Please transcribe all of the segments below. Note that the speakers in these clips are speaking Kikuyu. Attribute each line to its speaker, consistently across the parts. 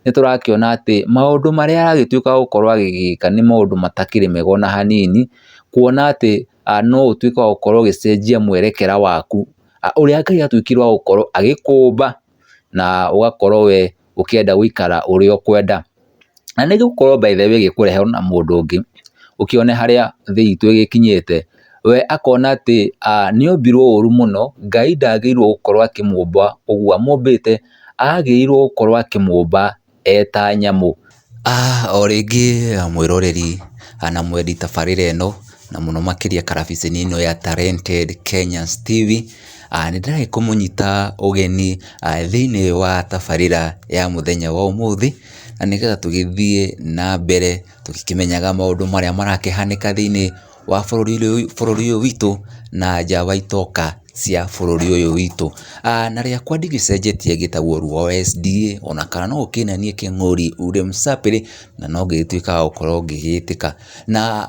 Speaker 1: nĩ tũrakĩona atĩ maũndũ marĩa aragĩtuĩka gũkorwo agĩgĩka nĩ maũndũ matakĩrĩ mega ona hanini, kuona atĩ no ũtuĩke wa gũkorwo ũgĩcenjia mwerekera waku, ũrĩa Ngai atuĩkire wa gũkorwo agĩkũmba, na ũgakorwo we ũkĩenda gũikara ũrĩa ũkwenda. Na nĩ gũkorwo by the way ĩgĩkũrehe ona mũndũ ũngĩ, ũkĩone harĩa thĩ itũ ĩgĩkinyĩte. we akona atĩ nĩombirwo ũru mũno, Ngai ndagĩrĩirwo gũkorwo akĩmũmba ũguo, amũmbĩte agĩrĩirwo gũkorwo akĩmũmba eta nyamũ. O rĩngĩ mwĩroreri na mwendi tabarĩra ĩno na mũno makĩria karabiceni ĩno ya Talented Kenyans TV, nĩndĩrathi kũmũnyita ũgeni thĩiniĩ wa tabarĩra ya mũthenya wa ũmũthĩ, na nĩgetha tũgĩthiĩ na mbere tũkĩmenyaga maũndũ marĩa marakĩhanĩka thĩiniĩ wa bũrũri ũyũ witũ na nja wa itoka cia bũrũri ũyũ witũ. Na rĩakwa ndigĩcenjetie ngĩtagwo Rwaesndie ona kana no ũkĩnanie Kĩng'ori ule msapere na no ngĩgĩtuĩka wa gũkorwo ngĩgĩtĩka. Na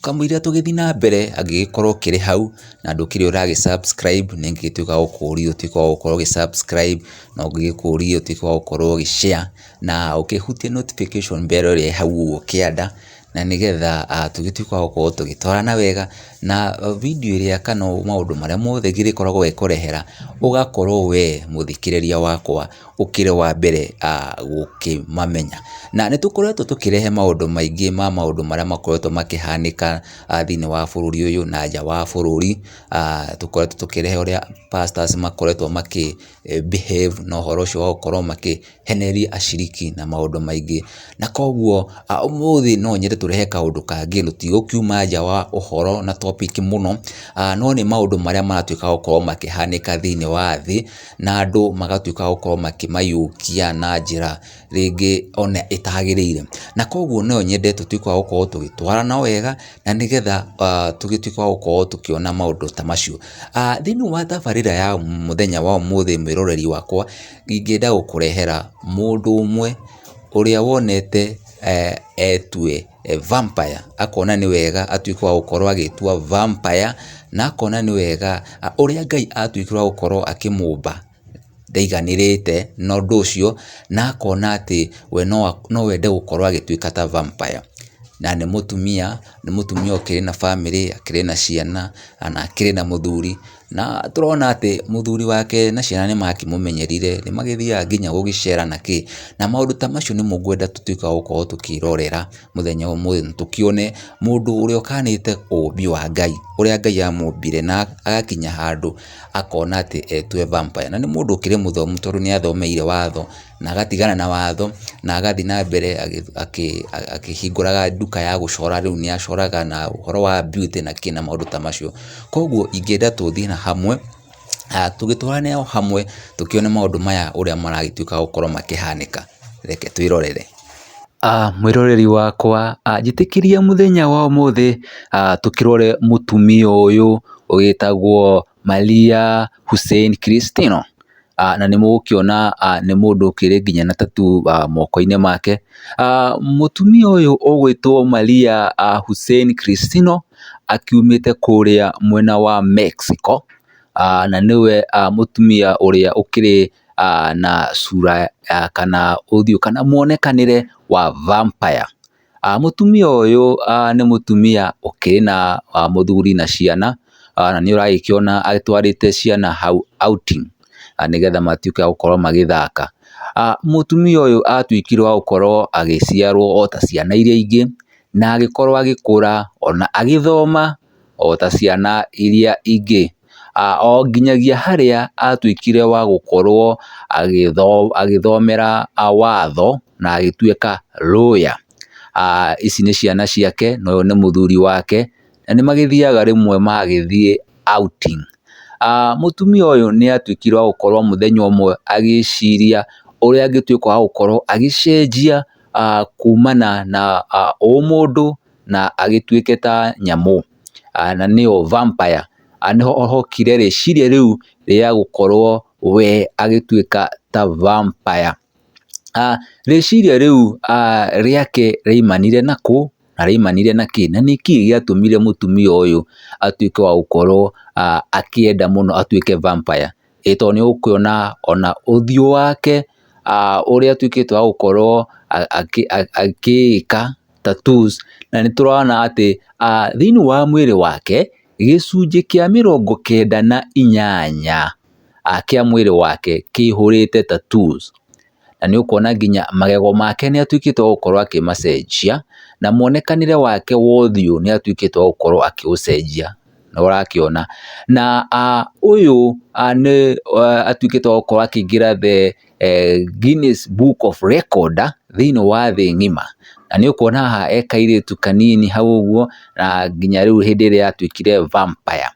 Speaker 1: kamũira tũgĩthiĩ na mbere angĩgĩkorwo ũkĩrĩ hau na ndũkĩrĩ ũra gĩ subscribe nĩ ingĩgĩtuĩka wa gũkũria ũtuĩke wa gũkorwo ũgĩ subscribe, no ngĩgĩkũrie ũtuĩke wa gũkorwo ũgĩ share na ũkĩhutie notification bell ĩrĩa ĩĩ hau ũguo kĩanda na nĩgetha tũgĩtuĩke a gũkorwo tũgĩtwarana wega, na video ĩrĩa kana maũndũ marĩa mothe ngĩrĩkoragwo ngĩkũrehera ũgakorwo we mũthikĩrĩria wakwa ũkĩrĩ wa mbere gũkĩmamenya. Na nĩ tũkoretwo tũkĩrehe maũndũ maingĩ ma maũndũ marĩa makoretwo makĩhanĩka thĩiniĩ wa bũrũri ũyũ na nja wa bũrũri, tũkoretwo tũkĩrehe ũrĩa pastors makoretwo makĩ behave na ũhoro ũcio wa gũkorwo makĩhenereria aciriki na maũndũ maingĩ. Na koguo ũmũthĩ no nyende tũrehe kaũndũ kangĩ tũtigũkiuma nja wa ũhoro na topic mũno, no nĩ maũndũ marĩa maratuĩka gũkorwo makĩhanĩka thĩinĩ wa thĩ, na andũ magatuĩka gũkorwo makĩmayũkia na njĩra rĩngĩ ona ĩtagĩrĩire. Na kũguo no nyende tũtuĩke wa gũkorwo tũgĩtwarana wega na nĩgetha tũgĩtuĩke wa gũkorwo tũkĩona maũndũ ta macio. Thĩiniĩ wa tabarĩra ya mũthenya wa ũmũthĩ mwĩroreri wakwa, ingĩenda gũkũrehera mũndũ ũmwe ũrĩa wonete etue vampire, akona nĩ wega atuĩke wa gũkorwo agĩĩtua vampire, na akona nĩ wega ũrĩa Ngai atuĩkire wa gũkorwo akĩmũmba. ndaiganĩrĩte na ũndũ ũcio, na akona atĩ we no ende gũkorwo agĩtuĩka ta vampire. Na nĩ mũtumia, nĩ mũtumia ũkĩrĩ na bamĩrĩ, akĩrĩ na ciana, na akĩrĩ na mũthuri. Na tũrona atĩ mũthuri wake na ciana nĩ makĩmũmenyerire, nĩ magĩthiaga nginya gũgĩcera na kĩ. Na maũndũ ta macio nĩmo ngwenda tũtuĩkaga gũkorwo tũkĩrorera mũthenya wa ũmũthĩ na tũkĩone mũndũ ũrĩa ũkanĩte ũũmbi wa Ngai, ũrĩa Ngai amũmbire na agakinya handũ. akona atĩ etue vampire. Na nĩ mũndũ ũkĩrĩ mũthomu tondũ nĩ athomeire watho na agatigana na watho na agathiĩ na mbere akĩhingũraga nduka ya gũcora rĩu nĩ acoraga na ũhoro wa beauty na kĩ na maũndũ ta macio. Kwoguo ingĩenda tũthiĩ na hamwe tũgĩtwarane o hamwe tũkĩone maũndũ maya ũrĩa maragĩtuĩka gũkorwo makĩhanĩka. Reke twĩrorere. Mwĩroreri wakwa njĩtĩkĩria mũthenya wa ũmũthĩ tũkĩrore mũtumia ũyũ ũgĩtagwo Maria Hussein Christino, na nĩ mũgũkĩona nĩ mũndũ ũkĩrĩ nginya na tattoo moko-inĩ make. Mũtumia ũyũ ũgwĩtwo Maria Hussein Christino akiumĩte kũrĩa mwena wa Mexico, na nĩwe mũtumia ũrĩa ũkĩrĩ na cura kana ũthiũ kana mwonekanĩre wa vampire. Mũtumia ũyũ nĩ mũtumia ũkĩrĩ na mũthuri na ciana, na nĩ ũragĩkĩona atwarĩte ciana hau outing nĩgetha matuĩke a gũkorwo magĩthaka. Mũtumia ũyũ atuĩkire wa gũkorwo agĩciarwo o ta ciana iria ingĩ, na agĩkorwo agĩkũra, o na agĩthoma o ta ciana iria ingĩ. O nginyagia harĩa atuĩkire wa gũkorwo agĩthomera watho na agĩtuĩka lawyer. Ici nĩ ciana ciake na ũyũ nĩ mũthuri wake, na nĩ magĩthiaga rĩmwe magagĩthiĩ outing. Mũtumia ũyũ nĩ atuĩkire wa gũkorwo mũthenya ũmwe agĩciria ũrĩa angĩtuĩka wa gũkorwo agĩcenjia kumana na ũmũndũ na agĩtuĩke ta nyamũ, na nĩyo vampire, nĩho hokire rĩciria rĩu rĩa gũkorwo we agĩtuĩka ta vampire. Rĩciria rĩu rĩake rĩaimanire na kũ, na rĩaimanire na kĩ, na nĩkĩ gĩatũmire mũtumia ũyũ atuĩke wa gũkorwo akĩenda mũno atuĩke vampire? ĩĩ tondũ nĩ ũkuona ona ũthiũ wake ũrĩa atuĩkĩte wa gũkorwo agĩĩka tattoos na nĩ tũrona atĩ thĩinĩ wa mwĩrĩ wake, gĩcunjĩ kĩa mĩrongo kenda na inyanya kĩa mwĩrĩ wake kĩihũrĩte tattoos. na nĩ ũkuona nginya magego make nĩ atuĩkĩte wa gũkorwo akĩmacenjia, na muonekanĩre wake wa ũthiũ nĩ atuĩkĩte wa gũkorwo akĩũcenjia, nĩ ũrakĩona. Na ũyũ nĩ atuĩkĩte wa gũkorwo akĩingĩra the Guinness Book of Record thĩiniĩ wa thĩ ng'ima, na nĩ ũkuona haha e kairĩtu kanini hau ũguo, na nginya rĩu hĩndĩ ĩrĩa atuĩkire vampire.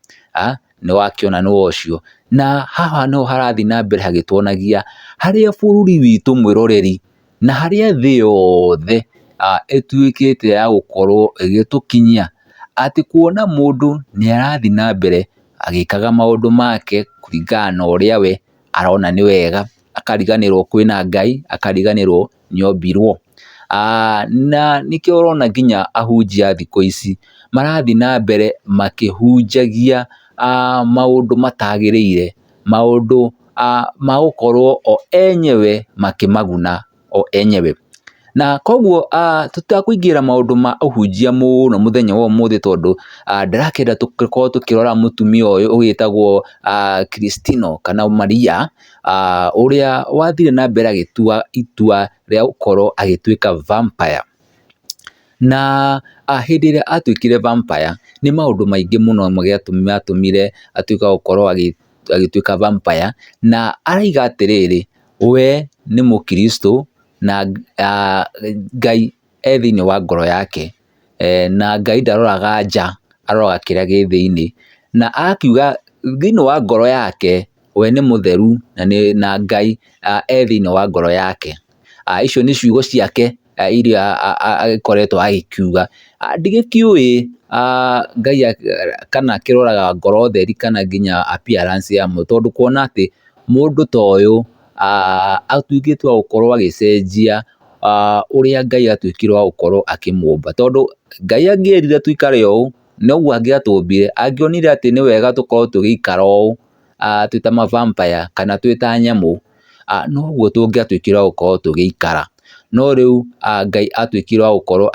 Speaker 1: nĩ wakĩona nĩ wocio. Na haha nĩho harathiĩ na mbere hagĩtuonagia harĩa bũrũri witũ mwĩroreri na harĩa thĩ yothe ĩtuĩkĩte ya gũkorwo ĩgĩtũkinyia, atĩ kuona mũndũ nĩ arathiĩ na mbere agĩkaga maũndũ make kũringana na ũrĩa we arona nĩ wega, akariganĩrwo kwĩna Ngai, akariganĩrwo nĩombirwo. Na nĩkĩo ũrona nginya ahunjia a thikũ ici marathiĩ na mbere makĩhunjagia maũndũ matagĩrĩire, maũndũ ma gũkorwo o enyewe makĩmaguna o enyewe. Na koguo tũtekũingĩrĩra maũndũ ma ũhunjia mũno mũthenya wa ũmũthĩ tondũ ndĩrakĩenda tũkorwo tũkĩrora mũtumia ũyũ ũgĩtagwo Christino kana Maria. ũrĩa wathire na mbere agĩtua itua rĩa gũkorwo agĩtuĩka vampire. Na hĩndĩ ĩrĩa atuĩkire vampire, nĩ maũndũ maingĩ mũno matũmire atuĩke wa gũkorwo agĩtuĩka vampire, na arauga atĩrĩrĩ, we nĩ mũkiricitũ, na Ngai e thĩiniĩ wa ngoro yake. na Ngai ndaroraga nja, aroraga kĩrĩa gĩ thĩiniĩ, na akiuga thĩiniĩ wa ngoro yake we nĩ mũtheru na Ngai e thĩiniĩ wa ngoro yake, icio nĩ ciugo ciake iria agĩkoretwo agĩkiuga, ndigĩkĩũĩ Ngai kana akĩroraga ngoro theri kana nginya appearance ya mũndũ, tondũ kuona atĩ mũndũ ta ũyũ atuĩkĩte wa gũkorwo agĩcenjia ũrĩa Ngai atuĩkire wa gũkorwo akĩmũmba. Tondũ Ngai angĩerire tũikare ũũ, noguo angĩatũmbire, angĩonire atĩ nĩ wega tũkorwo tũgĩikara ũũ twĩ ta ma vampire kana twĩ ta nyamũ, noguo tũngĩatuĩkire wa gũkorwo tũgĩikara. No rĩu Ngai atuĩkire wa gũkorwo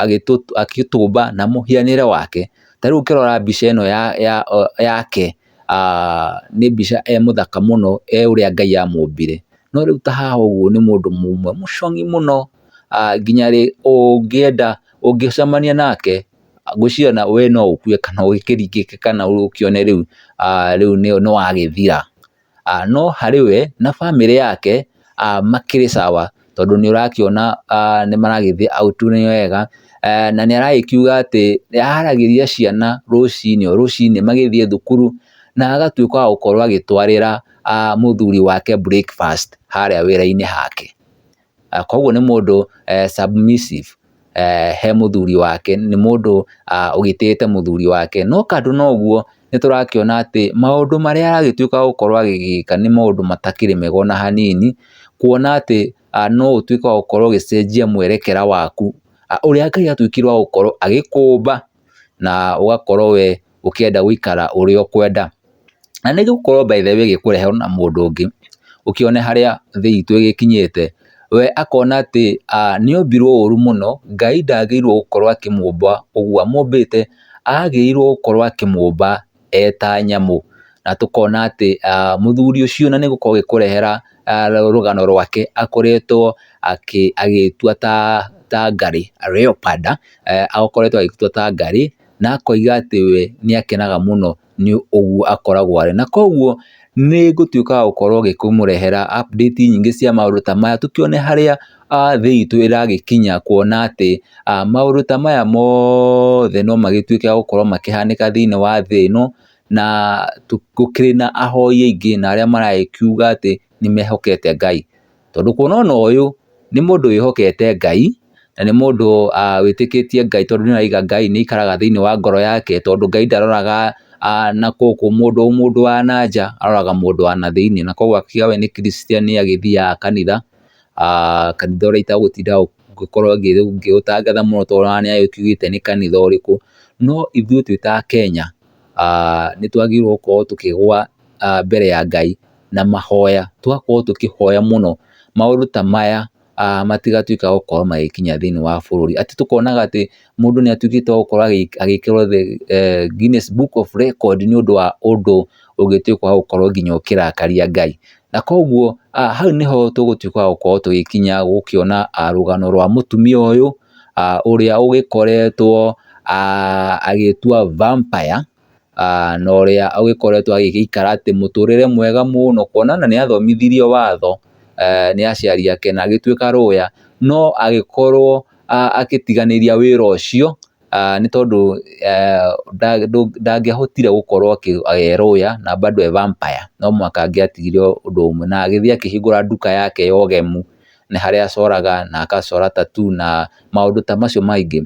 Speaker 1: agĩtũmba na mũhianĩre wake. Ta rĩu ũkĩrora mbica ĩno yake. nĩ mbica e mũthaka mũno e ũrĩa Ngai amũmbire. No rĩu ta haha ũguo nĩ mũndũ mũmwe mũcong'i mũno nginya rĩ ũngĩenda, ũngĩcemania nake ngwĩciria ona we no ũkue kana ũkĩringĩke kana ũkĩone rĩu nĩ wagĩthira. No harĩ we na bamĩrĩ yake makĩrĩ sawa tondũ nĩ ũrakĩona nĩ maragĩthiĩ out nĩ wega, na nĩ aragĩkiuga atĩ nĩ araragĩria ciana rũcinĩ o rũcinĩ magĩthiĩ thukuru, na agatuĩka wa gũkorwo agĩtwarĩra mũthuri wake breakfast harĩa wĩra-inĩ hake, koguo nĩ mũndũ submissive. he mũthuri wake, nĩ mũndũ ũgitĩte mũthuri wake, no kando na ũguo nĩ tũrakĩona atĩ maũndũ marĩa aragĩtuĩka gũkorwo agĩgĩka nĩ maũndũ matakĩrĩ mega ona hanini, kuona atĩ no ũtuĩke wa gũkorwo ũgĩcenjia mwerekera waku, ũrĩa Ngai atuĩkire wa gũkorwo agĩkũmba. na ũgakorwo we ũkĩenda gũikara ũrĩa ũkwenda. Na nĩ ĩgũkorwo by the way ĩgĩkũrehe na mũndũ ũngĩ, ũkĩone harĩa thĩ itũ ĩgĩkinyĩte. We akona atĩ nĩ ombirwo ũru mũno, Ngai ndagĩrĩirwo gũkorwo akĩmũmba ũguo, amũmbĩte agĩrĩirwo gũkorwo akĩmũmba eta nyamũ, na tũkona atĩ mũthuri ũcio na nĩgũkorwo agĩkũrehera rũgano rwake akoretwo agĩtua ta ngarĩ, leoparder, akoretwo agĩtua ta ngarĩ, na akoiga atĩ we nĩ akenaga mũno nĩ ũguo akoragwo arĩ. Na koguo nĩ ngũtuĩka wa gũkorwo ngĩkĩmũrehera update nyingĩ cia maũndũ ta maya tũkĩone harĩa... a thĩ itũ ĩragĩkinya kuona atĩ maũndũ ta maya mothe no magĩtuĩke a gũkorwo makĩhanĩka thĩinĩ wa thĩ ĩno, na gũkĩrĩ na ahoi aingĩ na arĩa maragĩkiuga atĩ nĩ mehokete Ngai. Tondũ kuona ona ũyũ nĩ mũndũ wĩhokete Ngai, na nĩ mũndũ wĩtĩkĩtie Ngai tondũ nĩ araiga Ngai nĩ aikaraga thĩinĩ wa ngoro yake, tondũ Ngai ndaroraga na gũkũ mũndũ mũndũ wa na nja, aroraga mũndũ wa na thĩinĩ. Na koguo we nĩ Christian nĩ agĩthiaga kanitha, aah kanitha ũrĩa itagũtinda ngĩkorwo ngĩũtangatha mũno tondũ ona nĩ agĩkiugĩte nĩ kanitha ũrĩkũ, no ithuĩ twĩ ta Akenya, aah nĩ twagĩrĩirwo gũkorwo tũkĩgwa mbere ya Ngai na mahoya, tũgakorwo tũkĩhoya mũno maũndũ ta maya, aah matigatuĩke magũkorwo magĩkinya thĩiniĩ wa bũrũri, atĩ tũkonaga atĩ mũndũ nĩ atuĩkĩte wa gũkorwo agĩkĩrwo the Guinness Book of Record nĩ ũndũ wa ũndũ ũngĩtuĩka wa gũkorwo nginya ũkĩrakaria Ngai. Na koguo hau nĩho tũgũtuĩka wa gũkorwo tũgĩkinya gũkĩona rũgano rwa mũtumia ũyũ ũrĩa ũgĩkoretwo agĩtua vampire na ũrĩa ũgĩkoretwo agĩgĩikara atĩ mũtũrĩre mwega mũno, kuona ona nĩ athomithirio watho nĩ aciari ake na agĩtuĩka lawyer, no agĩkorwo agĩtiganĩria wĩra ũcio, nĩ tondũ ndangĩahotire gũkorwo e lawyer na bado e vampire, no mũhaka angĩatigire ũndũ ũmwe, na agĩthiĩ akĩhingũra nduka yake ya ũgemu. nĩ harĩa acoraga na agacora tattoo na maũndũ ta macio maingĩ.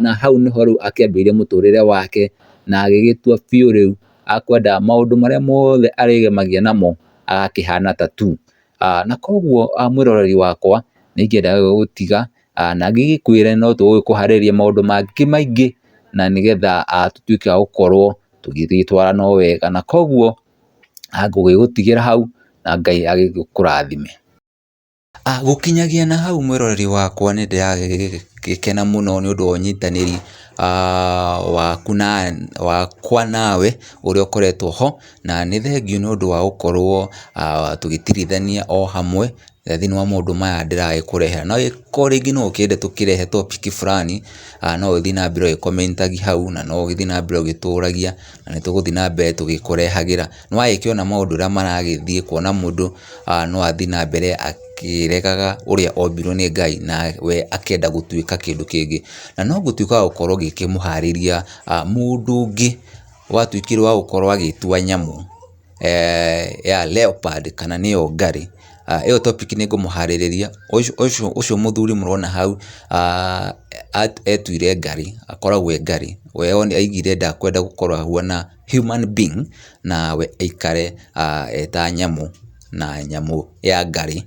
Speaker 1: Na hau nĩho rĩu akĩambĩrĩirie mũtũrĩre wake na agĩgĩtua biũ rĩu akwenda maũndũ marĩa mothe arĩgemagia namo agakĩhana tattoo. Na koguo mwĩroreri wakwa nĩ ingĩenda gũgũtiga na ngĩgĩkwĩre no tũgũgĩkũharĩria maũndũ mangĩ maingĩ na nĩgetha tũtuĩke a gũkorwo tũgĩgĩtwarana o wega. Na koguo Ngũgĩgũtigĩra hau na Ngai agĩkũrathime. Gũkinyagia na hau mwĩroreri wakwa nĩ ndĩragĩkena mũno nĩ ũndũ wa ũnyitanĩri wakwa nawe ũrĩa ũkoretwo ho, na nĩ thengiũ nĩ ũndũ wa gũkorwo tũgĩtirithania o hamwe. thĩinĩ wa maũndũ maya ndĩragĩkũrehera. No angĩkorwo rĩngĩ no ũkĩende tũkĩrehe topic fulani, no ũgĩthiĩ na mbere ũgĩ comment agia hau, na no ũgĩthiĩ na mbere ũgĩtũragia, na nĩ tũgũthiĩ na mbere tũgĩkũrehagĩra. Nĩ wagĩkĩona maũndũ ũrĩa maragĩthiĩ, kuona mũndũ no athiĩ na mbere akĩregaga ũrĩa ombirwo nĩ Ngai, na we akenda gũtuĩka kĩndũ kĩngĩ. Na no ngũtuĩka wa gũkorwo ngĩkĩmũharĩria mũndũ ũngĩ watuĩkire wa gũkorwo agĩĩtua nyamũ. ya leopard kana nĩyo ngarĩ, ĩyo topic nĩ ngũmũharĩrĩria, ũcio mũthuri mũrona hau etuire ngarĩ, akoragwo e ngarĩ, we aigire ndakwenda gũkorwo ahuana human being na we aikare e ta nyamũ, na nyamũ ya ngarĩ.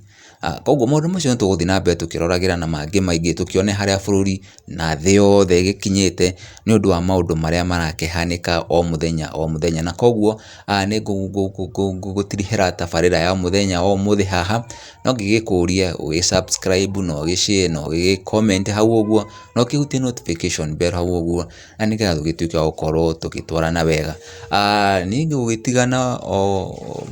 Speaker 1: Koguo maũndũ macio nĩ tũgũthiĩ na mbere tũkĩroragĩra na mangĩ maingĩ tũkĩone harĩa bũrũri na thĩ yothe ĩgĩkinyĩte nĩ ũndũ wa maũndũ marĩa marakĩhanĩka o mũthenya o mũthenya. Na koguo nĩ ngũtirihĩra tabarĩra ya mũthenya wa ũmũthĩ haha, no ngĩgĩkũrie ũgĩ subscribe na ũgĩ share na ũgĩ comment hau ũguo, na ũkĩhutie notification bell hau ũguo. na nĩgetha tũgĩtuĩke a gũkorwo tũgĩtwarana wega. Niĩ gũgĩtigana o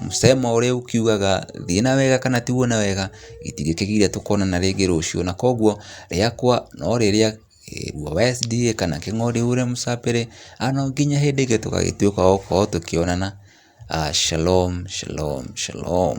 Speaker 1: mũcema ũrĩa ũkiugaga thiĩ na wega kana tigwo na wega, gĩtigĩkĩgiire tũkonana rĩngĩ rũciũ. Na kũguo rĩakwa no rĩrĩa kĩrĩrua wa SDA kana King'ori ure msapere, no nginya hĩndĩ ĩngĩ tũgagĩtuĩka a gũkorwo tũkĩonana. Shalom, shalom, shalom.